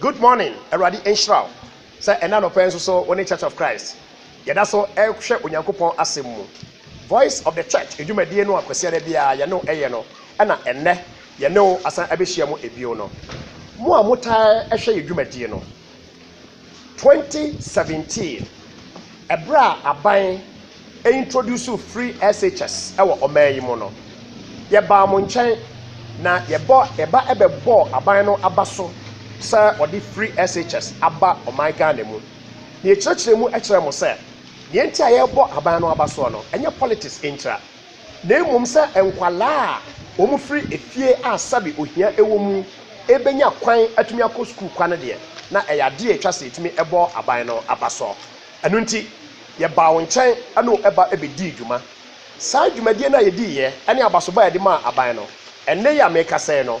Good morning, Awurade nhyira wo sɛ ɛna anɔpa yi nso so wo ne Church of Christ yɛda so ɛhwɛ Onyankopɔn asɛm mu. Voice of the Church adwumadie no a Kwasiada biara yɛne wo ɛyɛ no ɛna ɛnnɛ yɛne wo asan abɛhyia mu ɛbio no. Mo a motaa ɛhwɛ yɛn dwumadie no, 2017, Bere a aban introduced free SHS wɔ ɔman yi mu no, yɛbaa mo nkyɛn na yɛbɔ yɛba bɛbɔɔ aban no aba so sɛ wɔde free SHS aba ɔman Ghana mu. Na yɛkyerɛkyerɛɛ mu kyerɛɛ mo sɛ nea enti a yɛrebɔ aban no aba soɔ no, ɛnyɛ politics ntira. na mmom sɛ nkwadaa a wɔfiri efie a sɛbe ohia wɔ mu bɛnya kwan atumi akɔ sukuu kwa no deɛ, na ɛyɛ adeɛ a ɛtwa sɛ yɛtumi bɔ aban no aba so. Ɛno nti, yɛbaa wo nkyɛn ne wo ba bɛdii dwuma. Saa dwumadie no a yɛdiiɛ ne abasobɔ a yɛde maa aban no, ɛnnɛ yi a merekasa yi no,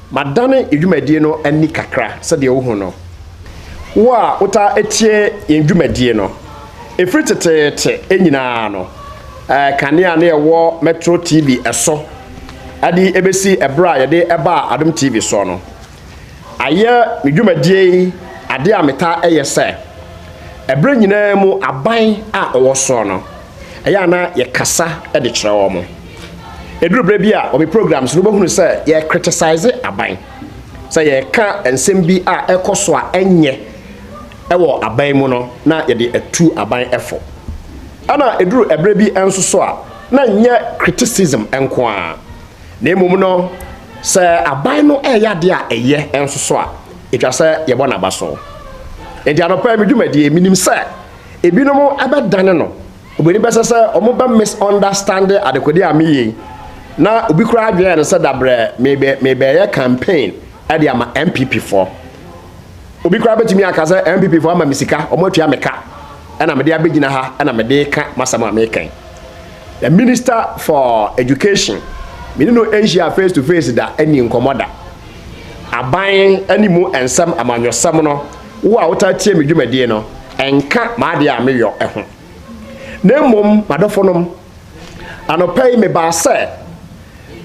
Madane dwumadie no ani kakra sɛdeɛ wohu no, wo a wotaa tie yɛn dwumadie no. Ɛfiri teteete nyina ara no, kanea na yɛwɔ Metro TV so de bɛsi berɛ a yɛde baa Adom TV soɔ no. Ayɛ me dwumadie yi adeɛ a metaa yɛ sɛ, berɛ nyina ara mu aban a ɔwɔ soɔ no, Ɛyɛ a na yɛkasa de kyerɛ wɔn. Ɛduru berɛ bi a wɔ me programs no wobɛhunu sɛ yɛkritisize aban sɛ yɛka nsɛm bi a ɛkɔ so a ɛnyɛ wɔ aban mu no na yɛde atu aban fo. Ɛna ɛduru ɛberɛ bi nso so a na nyɛ criticism nko ara na mmom no sɛ aban no ɛyɛ adeɛ a ɛyɛ nso so a ɛtwa sɛ yɛbɔ n'aba so. Enti anɔpa yi me dwumadie menim sɛ Ebinom bɛdane no, wɔn ani bɛsɛ sɛ wɔbɛ misunderstande adekode a meyɛ yi, na obi koraa adwene no sɛ dabrɛ mebɛ mebɛɛyɛ campaign de ama NPP foɔ. Obi koraa bɛtumi aka sɛ NPP foɔ ama me sika, wɔn atua me ka, ɛna mede abɛgyina ha ɛna mede reka m'asɛm a meka yi. The Minister for Education, me ne no nhyia face to face da, ɛni nkɔmmɔ da. Aban ne mu nsɛm, amanyɔsɛm no, Wo a wotaa tie me dwumadie no, nka m'adeɛ a meyɔ ho. Na mmom, m'adɔfonom, anɔpa yi mebaa sɛ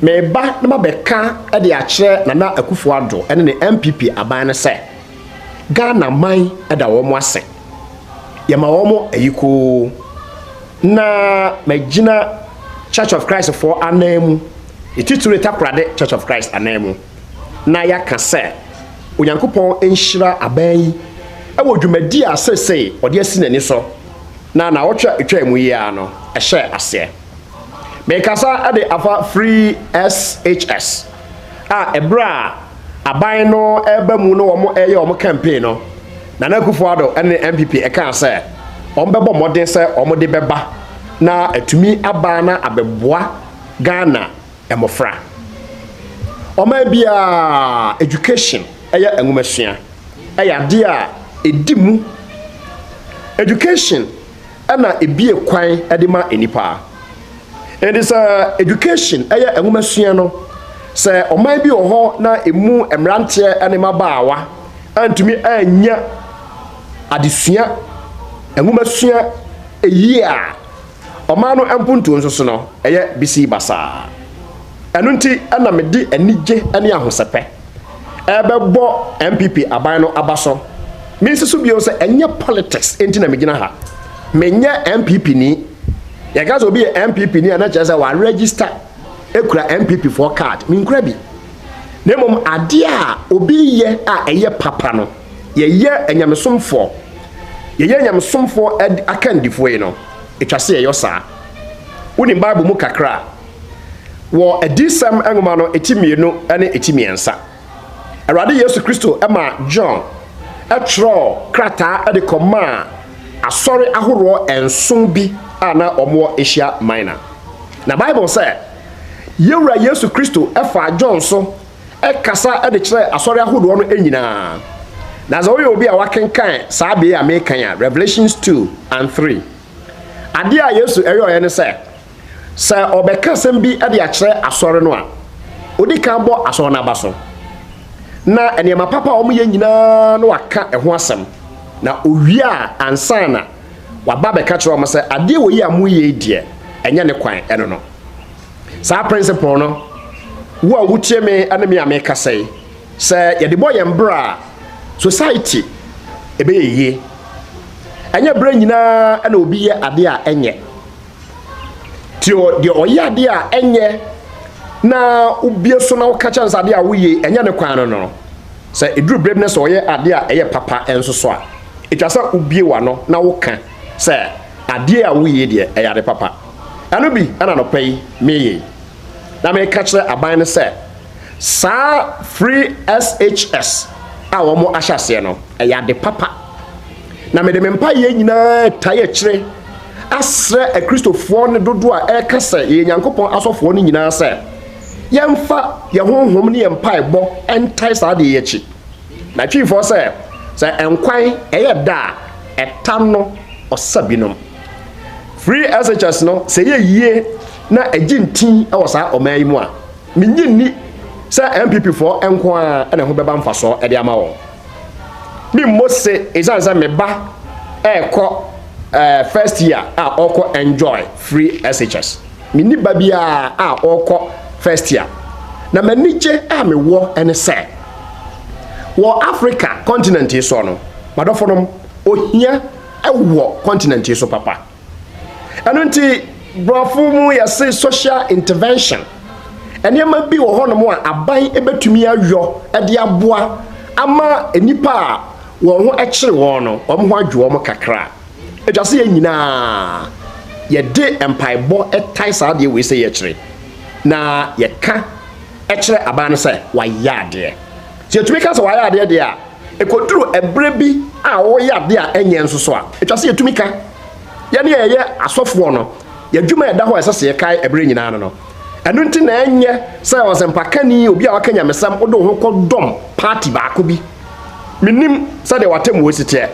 mereba na mabɛka de akyerɛ Nana Akufo-Addo ne ne NPP aban no sɛ, Ghana man da wɔn ase. Yɛma wɔn ayikoo. Na magyina Church of Christfoɔ ananmu, ne titire Takoradi Church of Christ ananmu. na yɛaka sɛ Onyankopɔn nhyira aban yi wɔ dwumadi a seesei ɔde asi n'ani so na naawɔtwe a etwaa mu yi ara no hyɛɛ aseɛ. Merekasa de afa FreeSHS a ɛberɛ a aban no reba mu na wɔreyɛ wɔn campaign no, Nana Akufo-Addo ne NPP kaa sɛ wɔbɛbɔ mmɔden sɛ wɔde bɛba na atumi aba na abɛboa Ghana mmofra. Ɔman biara, education ɛyɛ nwomasua ɛyɛ adeɛ a ɛdi mu. Education ɛna ɛbie kwan ɛde ma nnipa. Ɛnti sɛ education ɛyɛ nwomasua no, sɛ ɔman bi wɔ hɔ na ɛmu mmeranteɛ ɛne mmabaawa antumi annya adesua, nwomasua ɛyie a, Ɔman no mpontuo nso so no, ɛyɛ bisii basaa. Ɛno nti na mede anigye ne ahosɛpɛ rebɛbɔ NPP aban no aba so. Mensi so bio sɛ ɛnyɛ politics nti na megyina ha. Menyɛ NPPni. Yɛka sɛ obi yɛ NPPni a na kyerɛ sɛ waregister kura NPP foɔ card. Menkura bi. Na mmom adeɛ a obi yɛ a ɛyɛ papa no, yɛyɛ anyamesomfoɔ. yɛyɛ nyamesomfoɔ akandifoɔ yi no, ɛtwa sɛ yɛyɔ saa. Wonim Bible mu kakra a, wɔ Adiyisɛm nwoma no eti mmienu ne eti mmiɛnsa, Awurade Yesu Kristo maa John twerɛɔ krataa de kɔmaa asɔre ahoroɔ nson bi a na wɔwɔ Asia Minor. Na Bible sɛ, Yɛwura Yesu Kristo faa John so kasa de kyerɛɛ asɔre ahodoɔ no nyina ara. Na sɛ woyɛ obi a woakenkan saa bee a merekan a, Revelations two and three, adeɛ a Yesu yɔeɛ ne sɛ, sɛ ɔbɛka asɛm bi de akyerɛ asɔre no a, ɔdi kan bɔ asɔre no aba so, na nneɛma papa a wɔyɛ nyina ara na waka ɛho asɛm, na ɔwie a ansa na waba abɛka kyerɛ wɔn sɛ, adeɛ wei a moreyɛ yi deɛ, ɛnyɛ ne kwan, ɛno no. Saa principle no, wo a wotie me ne me a mekasa yi, sɛ yɛde bɔ yɛn bra a, society ɛbɛyɛ yie. Ɛnyɛ berɛ nyinaa na obi yɛ adeɛ a ɛnyɛ. Ti deɛ ɔyɛ adeɛ a ɛnyɛ na wobie so na woka kyɛn sɛ adeɛ a woyɛ ɛnyɛ ne kwan no no. Sɛ ɛduru berɛ bi na sɛ ɔyɛ adeɛ a ɛyɛ papa nso so a, ɛtwa sɛ wobie w'ano na woka sɛ adeɛ a woyɛ deɛ ɛyɛ ade papa. Ɛno bi na anɔpa yi mereyɛ yi, na mereka kyerɛ aban no sɛ saa free SHS a wɔn ahyɛ aseɛ no ɛyɛ ade papa. Na mede me mpaeɛ nyinaa tae akyire asrɛ akristofoɔ no dodoɔ a ɛreka sɛ yɛyɛ Nyankopɔn asɔfoɔ no nyinaa sɛ yɛmfa yɛn honhom ne yɛn mpaebɔ ntae saa adeɛ yi akyi. Na twifoɔ sɛ sɛ nkwan ɛyɛ da a ɛta no ɔsa binom. Free SHS no sɛ yɛ yie na ɛgye ntin wɔ saa ɔman yi mu a, mennye nni sɛ NPP foɔ nko ara na ɛho bɛba mfasoɔ de ama wɔn. Memmɔ se ɛsiane sɛ me ba ɛrekɔ eh, first year a ɔrekɔ enjoy free SHS. Menni ba biara a ɔrekɔ first year. Na m'anigye a mewɔ ne sɛ wɔ Africa continent yi soɔ no, m'adɔfonom, ohia wɔ continent yi so papa ɛno nti borɔfo mu yɛse social intervention nneɛma bi wɔ hɔnom a aban bɛtumi ayɔ de aboa ama nnipa a wɔn ho kyere wɔn no wɔn ho adwo wɔn kakra ɛtwa sɛ yɛn nyinaa yɛde mpaebɔ tae saa adeɛ wei sɛ yɛkyerɛ na yɛka kyerɛ aban no sɛ wayɛ adeɛ sɛ yɛtumi ka sɛ wayɛ adeɛ deɛ a Ɛkɔduru ɛberɛ bi a wɔreyɛ adeɛ a ɛnyɛ nso so a, ɛtwa sɛ yɛtumi ka. Yɛn a yɛyɛ asɔfoɔ no, yɛn adwuma a ɛda hɔ a ɛsɛ sɛ yɛkae ɛberɛ nyinaa no no. Ɛno nti na ɛnyɛ sɛ ɔsɛmpakani, obi a waka nyamesɛm, wode wo ho kɔdɔm party baako bi. Mennim sɛdeɛ w'atemmuo si teɛ,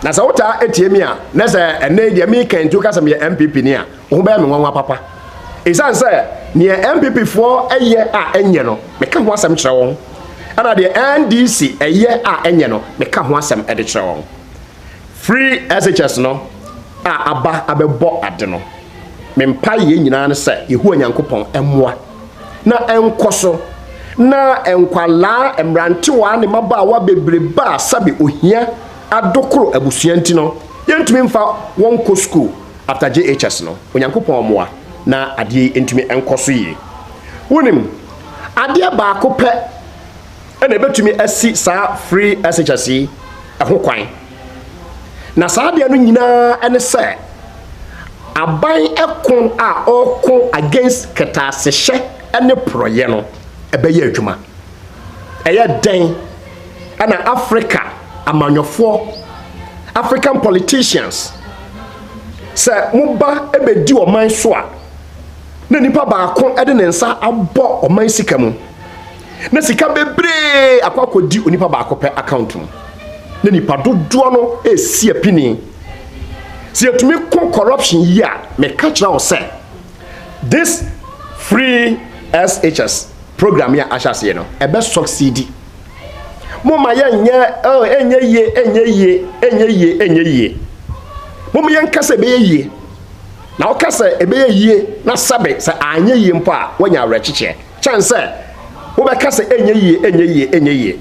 na sɛ wotaa tie me a, na sɛ ɛnnɛ yi deɛ mereka yi nti woka sɛ meyɛ NPPni a, Wobɛyɛ me nwanwa papa. Esiane sɛ nea NPP foɔ yɛ a ɛnyɛ no, meka ho asɛm kyerɛ wɔn, ɛna deɛ NDC yɛ a ɛnyɛ no, meka ho asɛm de kyerɛ wɔn. Firi SHS no a aba abɛbɔ ade no, me mpaeɛ nyinaa ne sɛ Yehowa Nyankopɔn mmoa na ɛnkɔ so na nkwadaa, mmerantewaa ne mmabaawa bebrebe a sɛbe ohia adokoro abusua nti no, yɛntumi mfa wɔn nkɔ sukuu. After JHS no, Onyankopɔn mmoa na adeɛ yi ntumi nkɔ so yie. Wonim, adeɛ baako pɛ na ɛbɛtumi asi saa free SHS yi ho kwan. Na saa adeɛ no nyinaa ne sɛ, aban ko a ɔreko against kɛtɛasehyɛ ne porɔeɛ no bɛyɛ adwuma. Ɛyɛ dɛn na Afrika amanyɔfoɔ, African politicians, sɛ moba bɛdi ɔman so a, na nipa baako de ne nsa abɔ ɔman sika mu, na sika bebree akɔ akɔdi onipa baako pɛ account mu, na nipa dodoɔ no ɛresi apini. Sɛ yɛtumi ko corruption yi a, meka kyerɛ wo sɛ, This free SHS program yi a ahyɛ aseɛ no, ɛbɛ succeedi. Mo ma yɛ nyɛ, oh, ɛnyɛ yie, ɛnyɛ yie, ɛnyɛ yie, ɛnyɛ yie. Mo ma yɛn ka sɛ ɛbɛyɛ yie. Na ɔka sɛ ɛbɛyɛ yie na sɛbe sɛ anyɛ yie mpo a, wɔnya awerɛkyekyeɛ. Kyɛn sɛ wobɛka sɛ ɛnyɛ yie, ɛnyɛ yie, ɛnyɛ yie.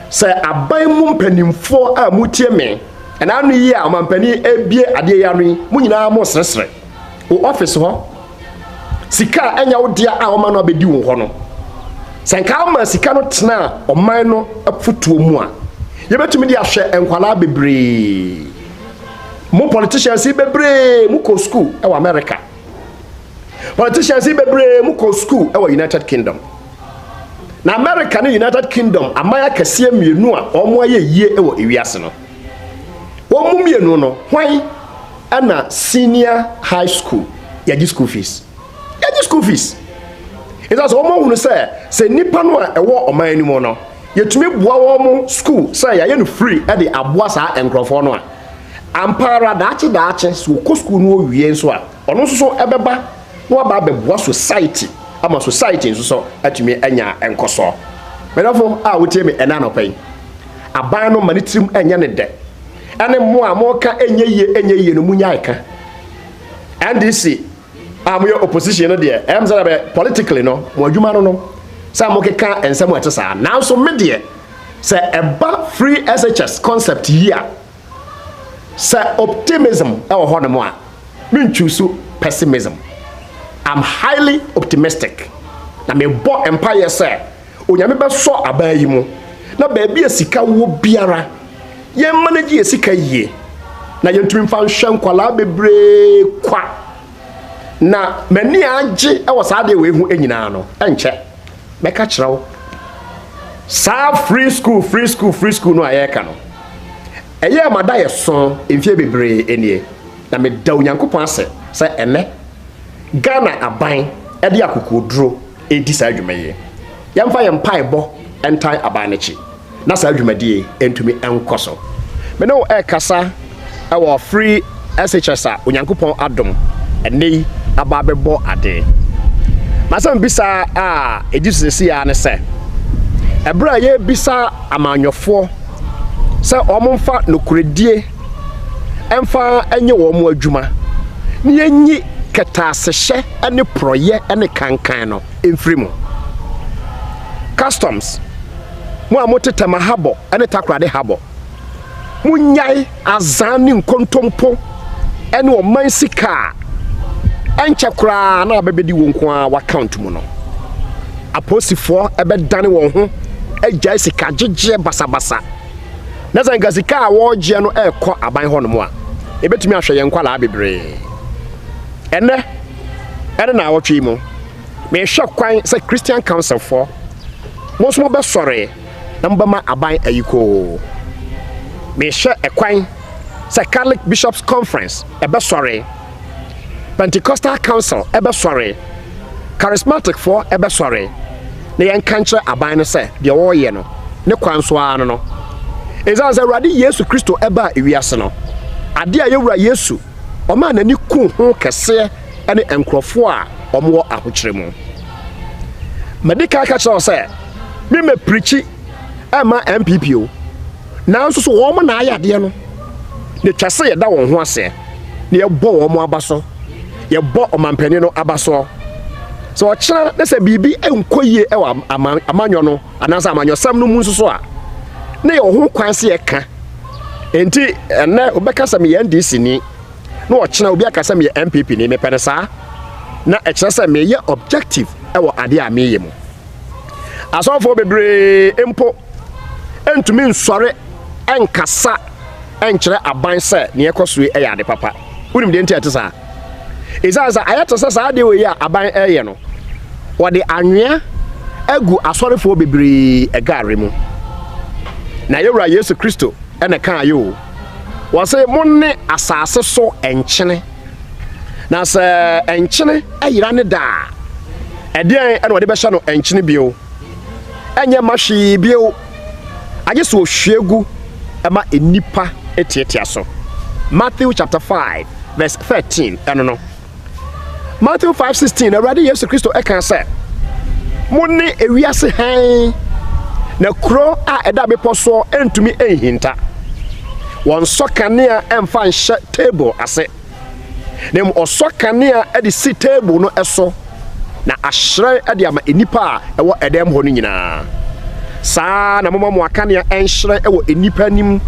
Sɛ aban mu mpanimfoɔ a motie me, ɛna ano yi a ɔmampanin ebie adeɛ yi ano yi, mo nyinaa mo sresre. wo office hɔ sika a ɛnyɛ wo dea a wɔma no abɛdi wo hɔ no sɛ nka ama sika no tena ɔman no afutuo mu a yɛbɛtumi de ahwɛ nkwadaa bebree mo politicians yi bebree mo kɔ school ɛwɔ America politicians yi bebree mo kɔ school ɛwɔ United Kingdom na America ne United Kingdom aman akɛseɛ mmienu a wɔn ayɛ yie ɛwɔ ewiase no. Wɔn mu mmienu no, hwan na senior high school yɛgye school fees? Yɛgye school fees. Ɛsan sɛ wɔn ahunu sɛ sɛ nnipa no a ɛwɔ ɔman no mu no, yɛtumi boa wɔn school sɛ yɛayɛ no free de aboa saa nkurɔfoɔ no a, ampa ara daakye daakye sɛ wɔkɔ school no wɔwie nso a, Ɔno nso so ɛbɛba na waba abɛboa society ama society nso so atumi anya nkɔsoɔ. Mɛdɔfo a wotie me ɛna anɔpa yi, aban no ma ne tirim ɛnyɛ ne dɛ. Ɛne mo a moka ɛnyɛ yie ɛnyɛ yie no mo nyae ka. NDC a moyɛ opposition no deɛ, ɛyɛ mo sɛ bɛ politically no mo adwuma no no sɛ mokeka nsɛm ɛte saa. Nanso me deɛ sɛ ɛba free SHS concept yi a, Sɛ optimism wɔ hɔnom a, mentwuusu pessimism. I'm highly optimistic. Na mebɔ mpaeɛ sɛ Onyame bɛsɔ abaa yi mu na baabi a sika wɔ biara, yɛn manage yɛn sika yie na yɛntumi mfa nhwɛ nkwadaa bebree kwa. Na m'ani agye wɔ saa adeɛ wei ho nyinaa no, ɛnkyɛ mɛka kyerɛ wo saa free school free school free school no a yɛreka no. Ɛyɛɛ ma daeɛso mfeɛ bebree nie, na meda Onyankopɔn ase sɛ ɛnnɛ Ghana aban de akokoɔduro redi saa dwuma yi. Yɛmfa yɛn mpaebɔ ntan aban no akyi na saa dwumadie yi ntumi nkɔ so. Me ne wo rekasa. wɔ free SHS a Onyankopɔn adom ɛnnɛ yi aba abɛbɔ adee. Masɛm bisa a ɛdi so sɛsi a ne sɛ, ɛberɛ a yɛrebisa amanyɔfoɔ sɛ wɔn mfa nokorɛdie ɛmfa ɛnyɛ wɔn adwuma na yɛnyi kɛtɛasehyɛ ne porɔyɛ ne kankan no mfiri mu. Customs, mo a mote Tema habɔ ne Takoradi habɔ, Monnyae azan ne nkontompo ne ɔman sika a ɛnkyɛ koraa na abɛbɛdi wɔn nko ara w'account mu no. Apolisifoɔ bɛdane wɔn ho agyae sika gyegyeɛ basabasa. Na sɛ nka sika a wɔregyeɛ no rekɔ aban hɔnom a, ɛbɛtumi ahwɛ yɛn nkwadaa bebree. Ɛnɛ ɛne naawɔtwe yi mu, mehwɛ kwan sɛ Christian Councilfoɔ mo nso mobɛsɔre mbɛma aban ayikoo. Merehwɛ kwan sɛ Catholic Bishops Conference bɛsɔre, Pentecostal Council bɛsɔre, Charismaticfoɔ bɛsɔre, na yɛnka nkyerɛ aban no sɛ deɛ wɔreyɛ no, ne kwa nso ara no no. Ɛsiane sɛ Awurade Yesu Kristo baa ewiase no, adeɛ a yɛn Wura Yesu ɔmaa n'ani kuu ho kɛseɛ ne nkurɔfoɔ a wɔwɔ ahokyerɛ mu. Madi kan ka kyerɛɛ wo sɛ me mɛ pirikyi ɛma MPP o. Nanso so wɔn mo na ayɛ adeɛ no. Na ɛtwa sɛ yɛda wɔn ho aseɛ na yɛbɔ wɔn mo aba so. Yɛbɔ ɔmampanin no aba soɔ. Sɛ ɔkyena na sɛ biribi nkɔ yie ɛwɔ amanyɔ no anaasɛ amanyɔsɛm no mu nso so a, na yɛwɔ ho kwan sɛ yɛka. Enti ɛnɛ wobɛka sɛ meyɛ NDC ni. na ɔkyena obi aka sɛ meyɛ NPP ni, mepɛ no saa, na ɛkyerɛ sɛ meyɛ objective wɔ adeɛ a meyɛ mu. Asɔfoɔ bebree mpo ntumi nsɔre nkasa nkyerɛ aban sɛ neɛ ɛkɔ so yɛ ade papa. Wonim deɛ nti a ɛte saa? Ɛsiane sɛ ayɛ te sɛ saa adeɛ wɔ yi a aban ɛyɛ no, wɔde anwea agu asɔrefoɔ bebree ɛgare mu. Na yɛwura Yesu Kristo ɛna kaa yɛ o. wɔse mone asase so nkyene, na sɛ nkyene ayera ne da a, ɛdeɛn na wɔde bɛhyɛ no nkyene bio? Ɛnyɛ ma hwee bio, agye sɛ ɔhwie gu ma nnipa tiatia so. Matthew chapter 5 verse 13 ɛno no. Matthew 5:16 Awurade Yesu Kristo ɛka sɛ mo ne ewiase hann na kuro a ɛda bepɔ soɔ ɛntumi ɛnhinta wɔnsɔ kanea ɛmfa nhyɛ table ase na mu ɔsɔ kanea ɛde si table no ɛso na ahyerɛn ɛde ama nnipa a ɛwɔ ɛdan mu hɔ no nyinaa saa na moma mo akanea ɛnhyerɛn ɛwɔ nnipa anim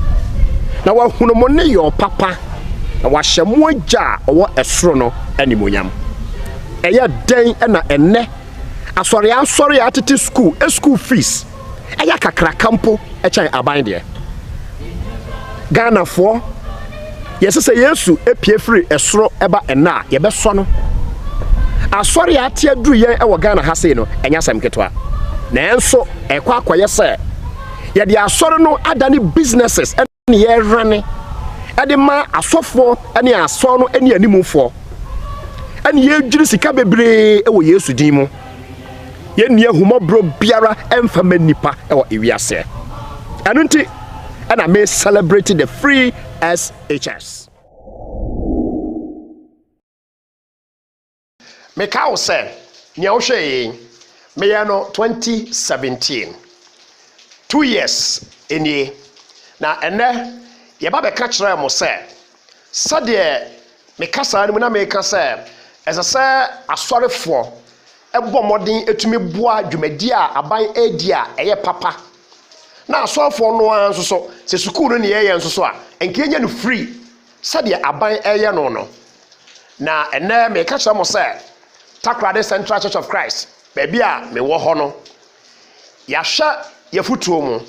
na wɔahunu mo ne yɔ papa na wahyɛ mo Agya a ɔwɔ soro no animuonyam. Ɛyɛ dɛn na ɛnnɛ asɔre asɔre a atete sukuu school fees yɛ kakraka mpo kyɛn aban deɛ? Ghanafoɔ, yɛsɛ sɛ Yesu pue firi soro ba ɛnnɛ a yɛbɛsɔ no. Asɔre a ate aduru yɛn wɔ Ghana ha sei no, ɛnyɛ asɛm ketewa. Nanso ɛkɔ akɔyɛ sɛ yɛde asɔre no adane businesses. ne yɛhwane de ma asɔfoɔ ne asɔr no ne animfoɔ, ɛne yɛdwiri sika bebree wɔ Yesu din mu. Yɛnni ahumɔborɔ biara mfa ma nnipa wɔ ewiaseɛ. Ɛno nti ɛna me celebrate the free SHS. Meka wo sɛ, nea wohwɛɛ yi, meyɛɛ no 2017. Two years nie. Na ɛnnɛ, yɛba bɛka kyerɛɛ mo sɛ, sɛdeɛ me kasaa no mu na meka sɛ, ɛsɛ sɛ asɔrefoɔ bɔ mmɔden tumi boa dwumadie a aban redi a ɛyɛ papa. Na asɔrefoɔ no ara nso so, sɛ sukuu no na yɛyɛ nso so a, ɛnka yɛnya no free. sɛdeɛ aban reyɛ no no. Na ɛnnɛ meka kyerɛ mo sɛ, Takoradi Central Church of Christ, baabi a mewɔ hɔ no, yɛahwɛ yɛfotuo mu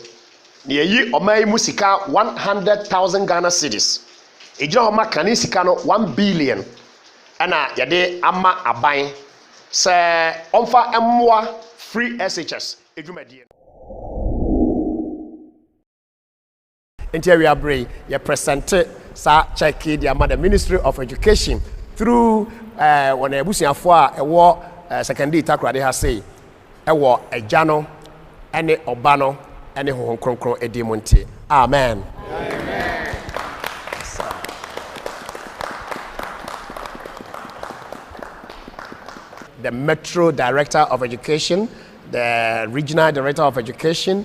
na yɛyi ɔman yi mu sika 100,000 Ghana cedis. Ɛgyina hɔ ma kane sika no 1 billion ɛna yɛde ama aban sɛ ɔmfa mmoa free SHS adwumadie no. Nti awia bere yi, yɛ presente saa check yi de ama the Ministry of Education through eh, wɔn abusuafoɔ a ɛwɔ eh, Sekondii Takoradi ha sei, ɛwɔ Agya no, ɛne Ɔba no, ɛne Honhom Kronkron ɛdin mu nti. Amen. the Metro Director of Education, the Regional Director of Education,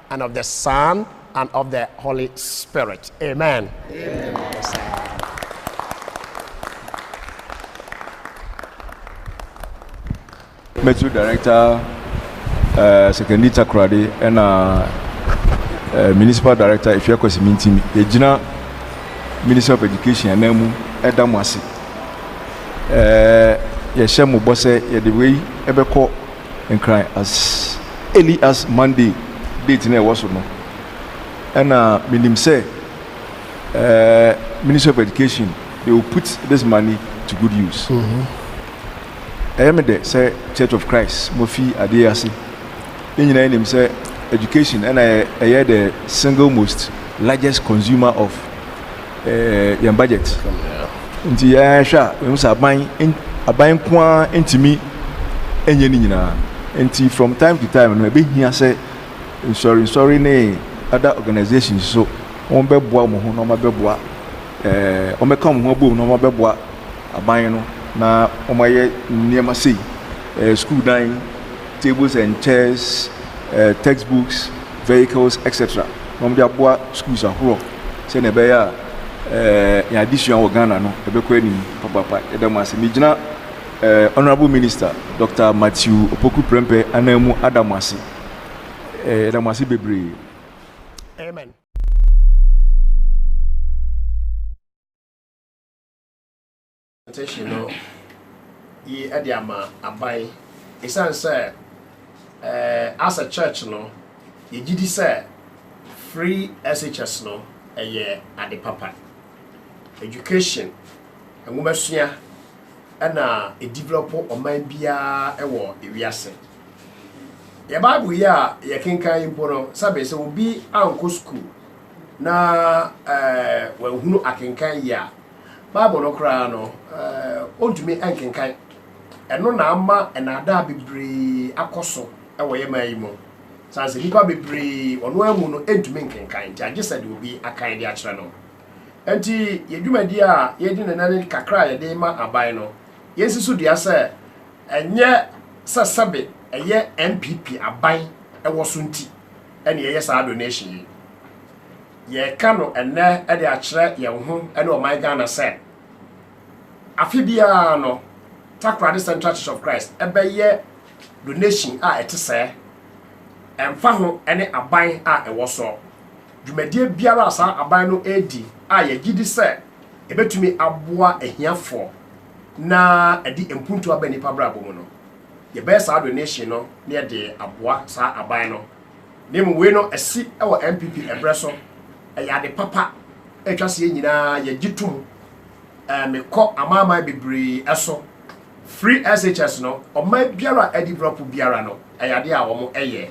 and of the Son, and of the Holy Spirit. Amen. Amen. Metro Director uh, Secondary Takrade and uh, uh, Municipal Director Ifya Kwasimintim yɛgyina Minister of Education anan mu ɛda mo ase yɛhyɛ mo bɔ sɛ yɛde wei ɛbɛkɔ nkran as early as Monday date no a ɛwɔ so no. Ɛna menim sɛ uh, Ministry of Education, they will put this money to good use. Ɛyɛ me dɛ sɛ Church of Christ mofi adeɛ ase. Yɛn nyinaa nim sɛ education ɛna ɛyɛ the single most largest consumer of ɛɛ yɛn budget nti yɛn hwɛ a yɛn sɛ aban aban nko ara ntumi nyɛ ne nyinaa nti from time to time no ebi hia sɛ nsɔre nsɔre ne other organisations so wɔn bɛboa wɔn ho na wɔn abɛboa ɛɛ wɔn bɛka wɔn ho abom na wɔn abɛboa aban no na wɔn ayɛ nneɛma sei ɛɛ sukuu dan tables and chairs ɛɛ textbooks vehicles etc na wɔn de aboa schools ahorow. sɛnea ɛbɛyɛ a eh, yɛn adesua wɔ Ghana no ɛbɛkɔ anim papaapa. Yɛda mo ase. Megyina eh, Honorable Minister Dr. Matthew Opoku Prempeh anan mu ada mo ase. Eh, yɛda mo ase bebree. Amen. Petition no yi de ama aban. Esiane sɛ eh, as a church no, yɛgye di sɛ free SHS no ɛyɛ ade papa. Education, nwomasua, ɛna ɛdevelop ɔman biara wɔ ewiase. Yɛ Bible yi a yɛkenkan yi mpo no, sɛbe sɛ obi ankɔ sukuu na eh, wanhunu akenkan yi a, Bible no koraa no, ɔntumi nkenkan. Ɛno na ama nnaadaa bebree akɔ so wɔ yɛn man yi mu. Sane sɛ nnipa bebree ɔno ara mu no ntumi nkenkan, nti agye sɛ de obi akan de akyerɛ no. Nti yɛ dwumadi a yɛdi ne nane kakra a yɛde ma aban no, yɛnsi so dua sɛ ɛnyɛ sɛ sɛbe ɛyɛ NPP aban ɛwɔ so nti ɛne yɛyɛ saa donation yi. Yɛreka no ɛnnɛ de akyerɛ yɛn ho ne ɔman Ghana sɛ, afe biara no, Takoradi Central Church of Christ bɛyɛ donation a ɛte sɛɛ, ɛmfa ho ne aban a ɛwɔ soɔ. Dwumadie biara a saa aban no redi a yɛgye di sɛ ɛbɛtumi aboa ahiafoɔ na ɛde mpuntuo aba nnipa abrabɔ mu no, yɛbɛyɛ saa donation no na yɛde aboa saa aban no. Na mmom wei no asi wɔ NPP ɛberɛ so, ɛyɛ ade papa a ɛtwa sɛ yɛn nyinaa yɛgye tom. Ɛɛ mekɔ amanaman bebree so, firi SHS no, ɔman biara a adi brɔpo biara no, ɛyɛ adeɛ a wɔyɛ.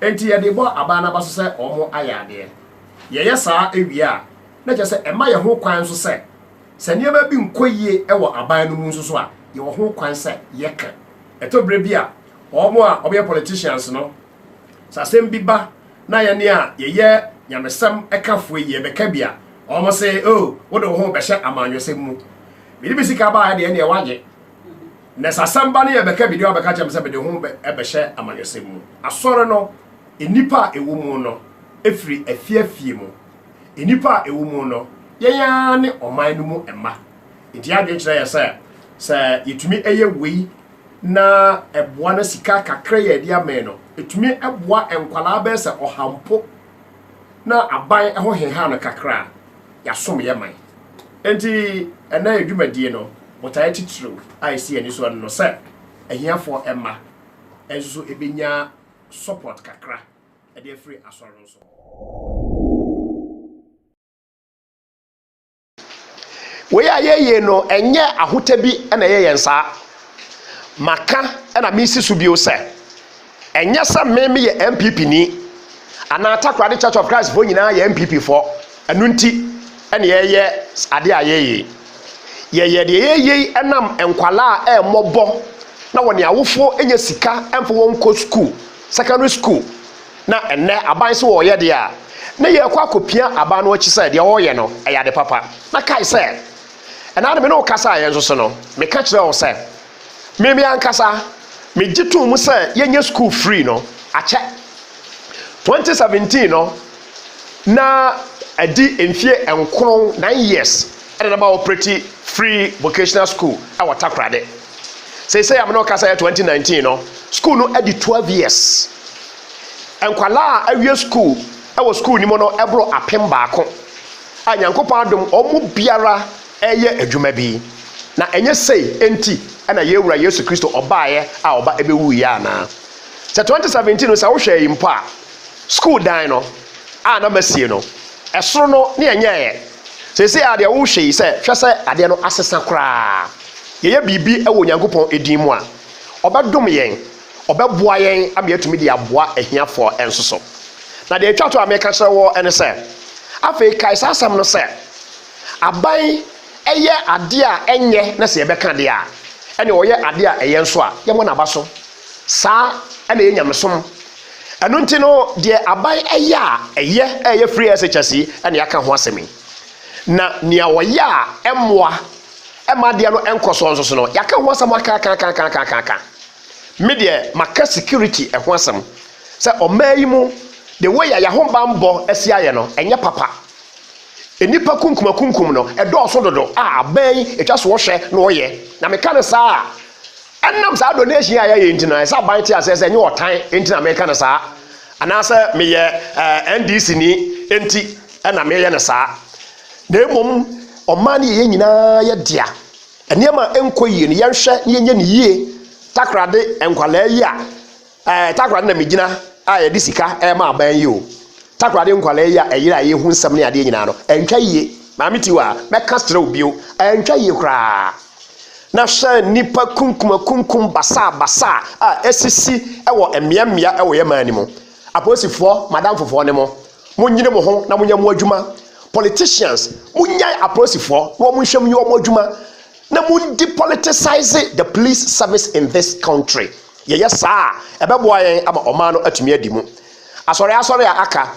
Enti yɛde bɔ abaa no aba so sɛ wɔayɛ adeɛ. Yɛyɛ saa wie a, na kyerɛ sɛ ɛma yɛn ho kwan nso sɛ, sɛ nneɛma bi nkɔ yie wɔ aban no mu nso so a, yɛwɔ ho kwan sɛ yɛka. Ɛtɔ berɛ bi a, wɔn a wɔyɛ politicians no, Sɛ asɛm bi ba na yɛne a yɛyɛ nyamesɛm kafoɔ yi yɛbɛka bi a, wɔn se, o, oh, wode wo ho bɛhyɛ amanyɔsɛm mu. Mede me sika baeɛ deɛ ɛneɛ wagye. Na sɛ asɛm ba no yɛbɛka bi deɛ wabɛka kyɛm sɛ mede ho bɛhyɛ amanyɔsɛm mu. Asɔre no, nnipa a ɛwɔ mu no, ɛfiri afiafie mu. Nnipa a ɛwɔ mu no, yɛn ara ne ɔman no mu mma. Nti adwene kyerɛ yɛ sɛ, sɛ yɛtumi ɛyɛ wei na ɛboa no sika kakra yi a ɛde amɛn no ɛtumi boa nkwadaa bɛyɛ sɛ ɔha mpo na aban ɛho heha no kakra a yɛasom yɛ man nti ɛna yɛ dwumadie no botaeɛ titiriw a ɛsi yɛn ani so no sɛ ahiafoɔ mma nso ɛbɛnya support kakra ɛde afiri asɔre no so. Wei a yɛyie no ɛnyɛ ahotɛ bi na ɛyɛ yɛn saa. Maka na mesi so bio sɛ, ɛnyɛ sɛ me meyɛ NPP ni anaa Takoradi Church of Christ foɔ nyinaa yɛ NPP foɔ, ɛno nti na yɛyɛ adeɛ a yɛyɛ. Yɛyɛ deɛ yɛyɛ yi ɛnam nkwalaa a ɛmmɔbɔ na wɔne awofoɔ nya sika ɛmfa wɔn nkɔ sukuu, secondary school. Na ɛnnɛ, aban sɛ wɔreyɛ deɛ a, na yɛrekɔ akɔpia aban no akyi sɛ deɛ wɔreyɛ no, ɛyɛ ade papa. Na kae sɛ, ɛnnɛ ara me ne wo kasaeɛ nso so no, meka kyerɛɛ wo sɛ, me me ankasa, megye toom sɛ yɛnyɛ sukuu free no akyɛ. 2017 no, na adi mfeɛ nkron, nine years, ɛna na ma wɔopreti free vocational school wɔ Takoradi. Seisei a me ne ɔkasa yɛ 2019 no, school no adi 12 years. Nkwadaa a awie school wɔ school no mu no ɛboro apem baako a Nyankopɔn adom wɔn mu biara ɛyɛ adwuma bi. Na ɛnyɛ sei enti ɛna yɛn Wura Yesu Kristo ɔbaeɛ a ɔba ɛbɛwuiɛ anaa? Sɛ 2017 no sɛ wohwɛ yi mpo a, school dan no a na masie no, ɛsoro no ne ɛnyɛeɛ. Seisei a deɛ wohwɛ yi sɛ hwɛ sɛ adeɛ no asesa koraa. Yɛyɛ biribi wɔ Onyankopɔn din mu a, ɔbɛdom yɛn, ɔbɛboa yɛn ama yɛatumi de aboa ahiafoɔ nso so. Na deɛ ɛtwa to a meka kyerɛ wo ne sɛ, afei kae saa asɛm no sɛ, aban yɛ adeɛ a ɛnyɛ na sɛ yɛbɛka adeɛ a, ɛne ɔyɛ adeɛ a ɛyɛ nso a, yɛmmɔ n'aba so. Saa na ɛyɛ nyamesom. Ɛno nti no, deɛ aban yɛ a ɛyɛ a ɛyɛ free SHS yi na yɛaka ho asɛm yi. Na nea ɔyɛ a ɛmmoa ɛmma adeɛ no nkɔ soɔ nso so no yɛaka ho asɛm akakakakakaka me deɛ maka security ɛho asɛm sɛ ɔmaa yi mu the way a yɛahobanbɔ asi ayɛ no ɛnyɛ papa nnipa kunkumakunkum no ɛdɔɔso dodo a abɛn yi ɛtwa so wɔhwɛ na wɔyɛ na meka no saa a ɛnam saa donation a yɛayɛ nti no ɛsɛ aban te aseɛ sɛ ɛnyɛ ɔtan nti na meka no saa anaasɛ meyɛ eh, ndc ni nti ɛna meyɛ no saa Na mmom ɔmaa no yɛ yɛn nyinaa yɛ dea. Nneɛma a ɛnkɔ yie no, yɛnhwɛ na yɛnyɛ no yie. Takorade nkwadaa yi a ɛɛ takorade na megyina a yɛde sika rema aban yi o. Takorade nkwadaa yi a ɛyere a yɛhu nsɛm ne adeɛ nyinaa no, ɛntwa yie. Maame Tiwa, mɛka kyerɛ wo bio, ɛntwa yie koraa. Na hwɛ nnipa kunkumakunkum basaabasaa a ɛsisi wɔ mmeammea wɔ yɛn man no mu. Apolisifoɔ madamfofoɔ ne mo monyini mo ho na monyɛ mo adwuma politicians monyae apolisifoɔ na wɔn nhwɛ mu nyɛ wɔn adwuma na mondi politicize the police service in this country yɛyɛ saa a ɛbɛboa yɛn ama ɔman no atumi adi mu asɔre asɔre a aka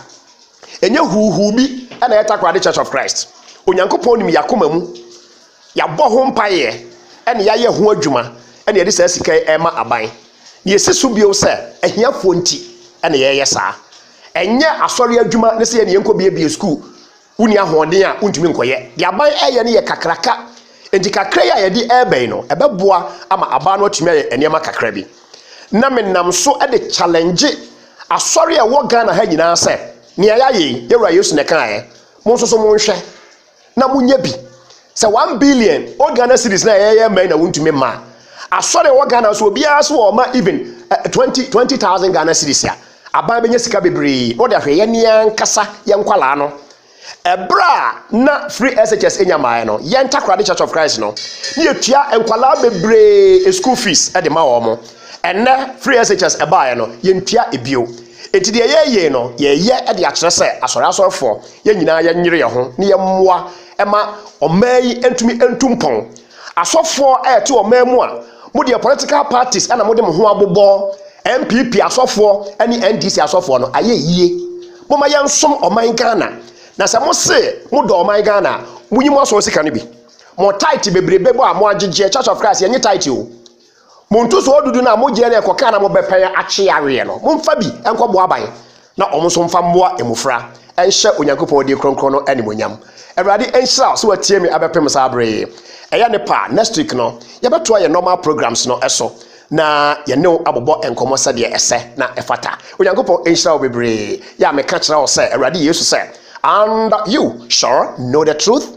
ɛnyɛ huuhuu bi ɛna ɛyɛ takoradi church of christ onyankopɔn nim yakoma mu Yɛabɔ ho mpaeɛ na yɛayɛ ho adwuma na yɛde saa sika yi rema aban. Na yɛsi so bio sɛ ahiafoɔ nti na yɛreyɛ saa. Ɛnyɛ Asɔre adwuma ne sɛ yɛne yɛnkɔbuebue sukuu. Wonni ahoɔden a wontumi nkɔyɛ. Deɛ aban reyɛ no yɛ kakraka. Enti kakra yi a yɛde reba yi no, ɛbɛboa ama aban no atumi ayɛ nneɛma kakra bi. Na menam so de challenge asɔre a ɛwɔ Ghana ha nyinaa sɛ, nea yɛayɛ yi, yɛn Wura Yesu na ɛkaeɛ. Mo nso so monhwɛ. na monya bi sɛ one billion o ghana series na ɛyɛ mmaa na wontumi mmaa asɔre wɔ ghana so obiara so wɔ ɔma even eh, twenty twenty thousand ghana series a aban bɛnya sika bebree na ɔde ahwɛ yɛn ne yɛn ankasa yɛn nkwalaa no ɛberɛ a na free shs nya mmaeɛ no yɛn takorade church of christ no ne yɛtua nkwalaa bebree school fees de ma wɔn mo ɛnɛ free shs ɛbaeɛ no yɛntua ebio enti deɛ yɛyɛ no yɛyɛ de akyerɛ sɛ asɔre asɔrefoɔ yɛn nyinaa yɛnyere yɛn ho na yɛmmoa ma ɔman yi ntumi ntu mpɔn asɔfoɔ a ɛte ɔman mu a modeɛ political parties na mode mo ho abobɔ npp asɔfoɔ ne ndc asɔfoɔ no ayɛ yie moma yɛnsom ɔman ghana na sɛ mo se modɔ ɔman ghana a monyi mo asɔre sika no bi mo tight bebrebe bɔ a mo agyegyeɛ church of christ yɛnye tight o Mo ntosoɔ dudu no a mogyeɛ na ɛkɔkaa na mobɛpɛn akye yareɛ no, momfa bi nkɔbɔ aban, na wɔn nso mfa mmoa mmofra nhyɛ Onyankopɔn din kronkron no animuonyam. Awurade nhyira wo sɛ watie me abɛpem saa bere yi. Ɛyɛ ne pɛ a, next week no, yɛbɛtoa yɛn normal programs no so na yɛne wo abobɔ nkɔmmɔ sɛdeɛ ɛsɛ na ɛfata. Onyankopɔn nhyira wo bebree. Yɛ a meka kyerɛ wo sɛ, Awurade Yesu sɛ, And you shall know the truth,